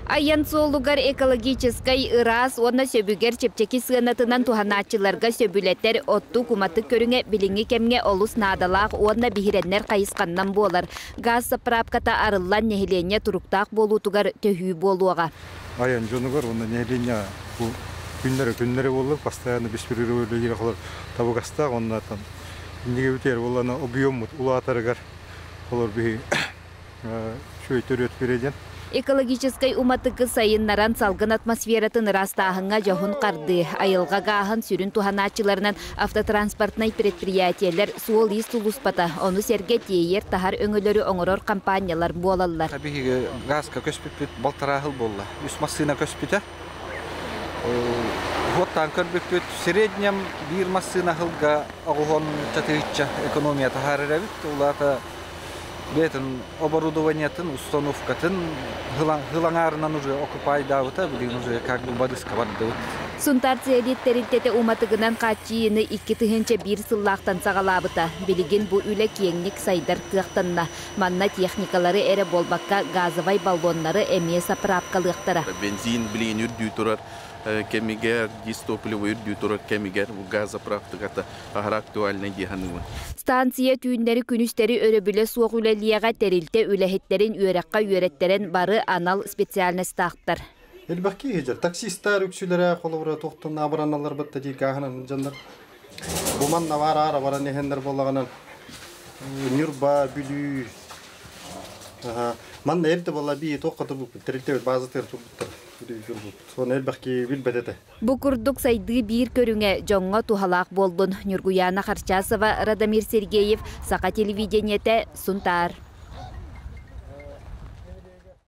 Айан суолугар экологическай ыраас уонна сөбүгэр чэпчэки сыанатынан туһанааччыларга сөбүлэтэр оттук-уматык көрүҥэ билиҥҥи кэмҥэ олус наадалаах уонна биһирэннэр хайысханнан буолар. Газ заправката арыллан нэһилиэнньэ туруктаах буолуутугар төһүү буолуоҕа. Айан дьонугар уонна нэһилиэнньэ бу күннэрэ-күннэрэ буолла постоянно беспрерывно олох табыгастаах уонна там иннигэ бүтэр буоллана объеммут улаатарыгар олор биһи Шөйтөрүөт Фредин. Экологическай уматыгы сайыннаран, салгын атмосфератын ыраастааһыҥҥа дьоһун хардыы, айылҕа гааһын сүрүн туһанааччыларынан автотранспортнай предприятиелэр суол-иис сулууспата, ону сэргэ тиэйэр-таһар өҥөлөрү оҥорор хампаанньалар буолаллар. Биһиги гааска көспүппүт балтарааһыл буолла. Үс массыына көспүтэ. Вход таанкар бүппүт. Среднем биир массыына аһылга оҕуһун татыычча экономия таһаарар эбит. Улаата бэйэтин оборудованиетын, установкатын хылаҥаарынан уже окупайдаабыта. Билигин уже как бы бадыска бардыбыт. Сунтаарция эдит тэрилтэтэ уматыгынан хааччыйыыны икки тыһыынча биир сыллаахтан саҕалаабыта. Билигин бу үлэ киэҥник сайдар кыахтанна. Манна техникалары эрэ буолбакка, газовай баллоннары эмиэ сапыраапкалыахтара. Бензин, блин, үрдүү турар кэмигэр, дистопливо үрдүү турар кэмигэр газозаправката аһара актуальнай дии саныыбын. Станция түүннэри-күнүстэри өрөбүлэ суох үлэлиэҕэ, тэрилтэ үлэһиттэрин үөрэххэ үөрэттэрэн бары анал специальностаахтар. Элбэх киһи дьэ, таксистар үксүлэрэ холобура туохтан абыранналларбыт да дии гааһынан дьоннор Бу манна баар аара баран иһэннэр буоллаҕынан Ньурба, Бүлүү. Манна элбэ была би туох катыбыппыт тэрилтэ базатыгар турбуттар үрбүппут. Оны элбэхки билбэт этэ. Бу курдук сайдыы биир көрүҥэ дьоҥҥо туһалаах буолбун Ньургуйаана Харчасова, Радомир Сергеев, Саха телевидениете, Сунтаар.